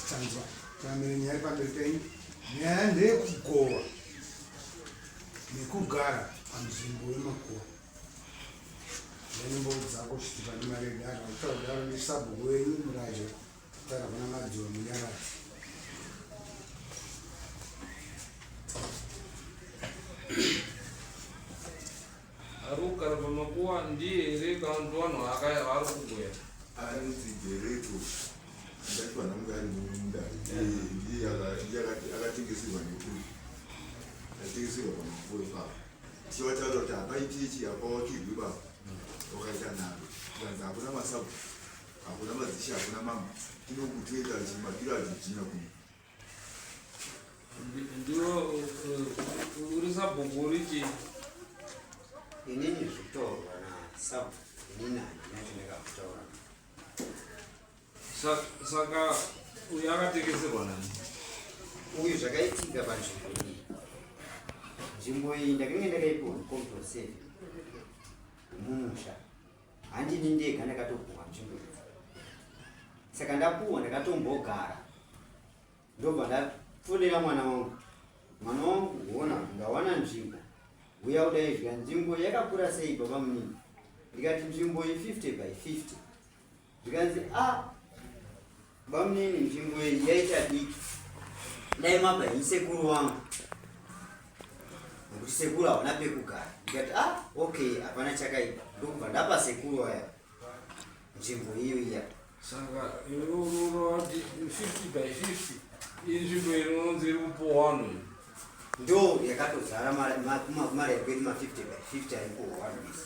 Tanzwa tamire nyaya pamberi penyu. Nyaya ndeyekugowa nekugara panzvimbo yemakuwa. Ndenembo dzako kuti pane mari yedara utaudaro nesabhuku wenyu murajo kutara kuna madziwa munyarati. Aruka rava makuwa ndiye here kanzi vanhu akaya vari kugoya. Anzi Dereto ndati vanhu vange ari mume mudari ndiye akatengeserwa nekuri akatengeserwa pamakuwa ipapo tichivataura kuti hapaitichi hapawakirwi baba wakaita nharo kanzi hakuna masabu hakuna mazishi hakuna mama tinokutoita chimakiro adzijina kuno ndiwo uri sabhuku uri chii inini zvitaurwa nasabhuku inini handina chandakakutaura saka uyu akatekeserwa nani uyu zvakaitika panzvimbo iyi nzvimbo iyi ndakange ndakaipiwa mukomdoseve mumusha handini ndega ndakatopuhwa nzvimbo iyi saka ndapuhwa ndakatombogara ndobva ndafonera mwana wangu mwana wangu huona ndawana nzvimbo huya kudaizvika nzvimbo yakakura sei baba munini ndikati nzvimbo ye 50 by 50 zvikanzi a ah, Bamnini nzvimbo iyi yaita diki dai mabva ini sekuru wangu nekuti sekuru hauna pekugara ndikati ah okay hapana chakaipa ndokubva ndapa sekuru waya nzvimbo iyo iya saka iwe unorati 50 by 50 iyi nzvimbo inononzi iri kupowano ndo yakatozara mari makumari ekwedu ma 50 by 50 ari kuhwandisa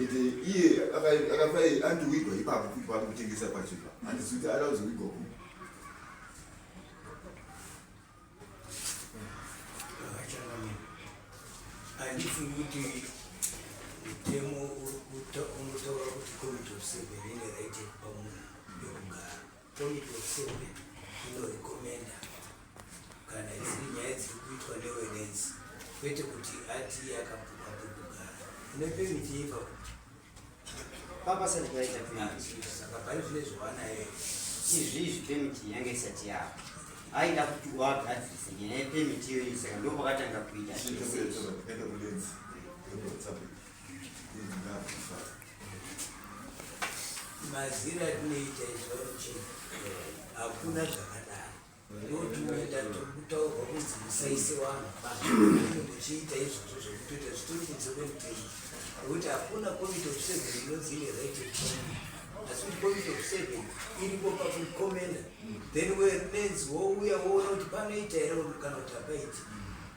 ende iye akafai andowigwa ipapo kuti paari kutengesa pachipa handizi kuti ada kuzowigwa ku handifungi kuti mutemo unotaura kuti komiti of seven ine right yekupa munhu yokugara Komiti yeSurvey inorekomenda kana dziri nyaya dziri kuitwa newenenzi kwete kuti ati akapuka pekugara ine pemiti yeipa kuti papasati paita pemiti saka pane zvine zvowanaye izvizvi pemiti yange isati yako aida kuti wagadzirisa nyaya yepemiti iyoyi saka ndopakatanga kuita mazira atinoita izvauchii hakuna zvakadaro noti uenda tokutaurwa kunzi musaise vanhu bainge muchiita izvozvo zvekutoita zvitori kunze kwemutemo nekuti hakuna committe of seven inonzi ine right asi kuti committe of seven iripo pakukomenda then wenenzi wouya woona kuti panoita here kana kuti hapaiti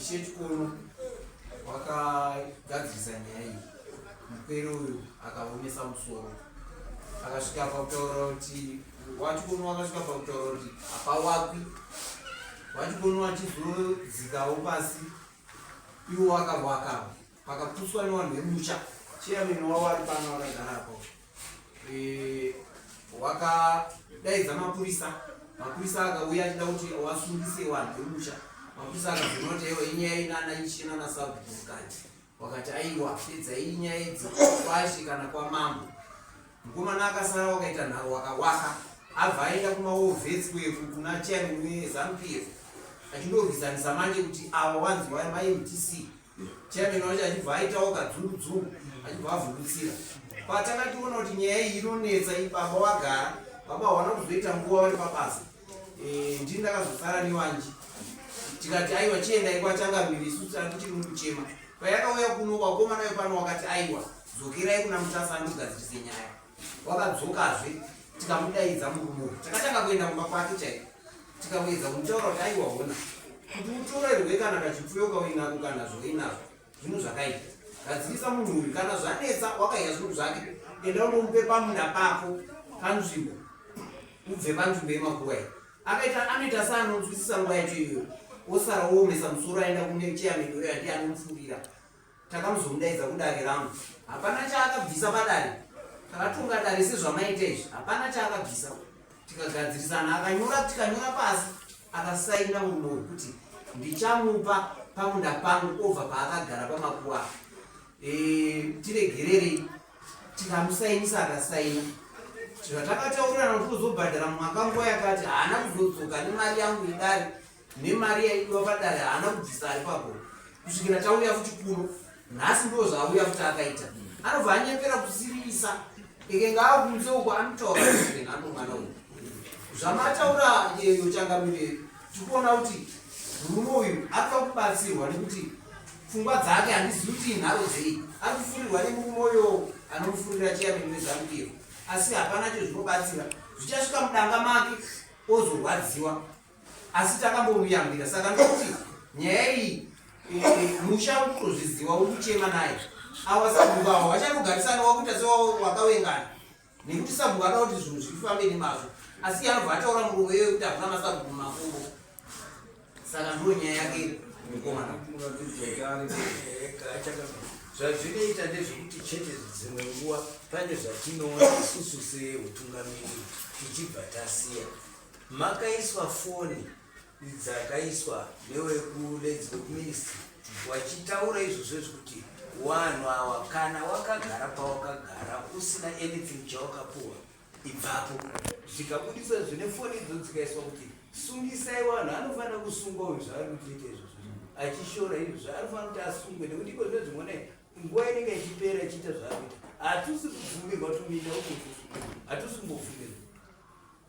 Ichechikono wakagadzirisa nyaya iyi muperi uyu akaomesa musoro akasvika pakutaura kuti wachikono wakasvika pakutaura kuti hapawakwi wachikono wachizozikawo pasi iwo wakawakawo Pakaputswa nevanhu vemusha chairman wavo ari pano vakagara apo eh, wakadaidza mapurisa mapurisa akauya achida kuti wasungise vanhu vemusha mapurisa akazona kuti aiwa inyaya inana ichena nasabukati wakati aiwa pedzai inyaya idzi kwashe kana kwamambo mukomana akasara wakaita nharo wakawaka abva aenda kumaovhesi kweku kuna chairman wezanupf achindorwisanisa manje kuti ava wanzi wamamtc Chairman wacho achibva aitawo kadzungu achibva avhundutsira patakationa kuti nyaya iyi inonetsa ibaba wagara baba hawana kuzoita nguva vari pabasa eh, ndini ndakazosara newanji tikati aiwa chiendai kwachangamiri isu tiri mukuchema payakauya kuno vakomana vepano wakati aiwa dzokerai kuna mutasa andogadzirise nyaya wakadzokazve tikamudaidza murume uyu takatanga kuenda kumba kwake chaiko tikamuedza kumutaura kuti aiwa hona kuti utorerwe kana kachipfuyo kauinako kana zvoinazvo zvinhu zvakaita gadzirisa munhu uyu kana zvanetsa wakaiya zvinhu zvake enda unomupe pamunda pako panzvimbo ubve panzvimbo yemakuwa iyi akaita anoita seanonzwisisa nguva yacho iyoyo osara oomesa musoro aenda kune cheyamedoro yandi anomufurira Takamuzomudaidza kudare rangu. Hapana chaakabvisa padare. Takatonga dare sezvamaita izvi. Hapana chaakabvisa. Tikagadzirisana akanyora tikanyora pasi akasaina murume uyu kuti ndichamupa pamunda pangu obva paakagara pamakuwa e, tiregererei tikamusainisa akasaina zvatakataurirana kuti uzobhadhara mumwaka nguva yakati haana kuzodzoka nemari yangu idari nemari yaidiwa padare haana kubvisa ari papo kusvikira tauya futi kuno nhasi ndo zvaauya futi akaita anobva anyepera kusirisa ekenga akunze uko anotaura anomwana uyu zvamataura yeyo changamire tikuona kuti murume uyu atoa kubatsirwa nekuti pfungwa dzake handizivi kuti inharo dzei ari kufurirwa nemurume uyo anomufurira chiyamini wezamukiro asi hapana cho zvinobatsira zvichasvika mudanga make ozorwadziwa asi takambomuyambira saka ndokuti nyaya iyi musha utozviziva ukuchema naye awa sabhuku awa vachanogarisana wakuita sewakawengana nekuti sabhuku ada kuti zvinhu zvifambe nemazvo asi anobva ataura murume iwe kuti hakuna masabhuku makuru saka ndo nyaya yake mukomana zvazvinoita ndezvekuti chete dzimwe nguva pane zvatinoona isusu seutungamiri tichibva tasiya Makaiswa foni dzakaiswa newekuledzi wekuministry wachitaura izvozvo zvekuti wanhu awa kana wakagara pawakagara usina anything chawakapuwa ibvapo zvikabudiswa zvine foni idzo dzikaiswa kuti sungisai wanhu anofanira kusungwa uyu zvaari kutiita izvozvo achishora izvo zvaarifanira kuti asungwe nekuti iko zve zvimwona nguva inenge ichipera ichiita zvaarikuita hatusi kubvumirwa tuminda uko hatusi kumbofumirwa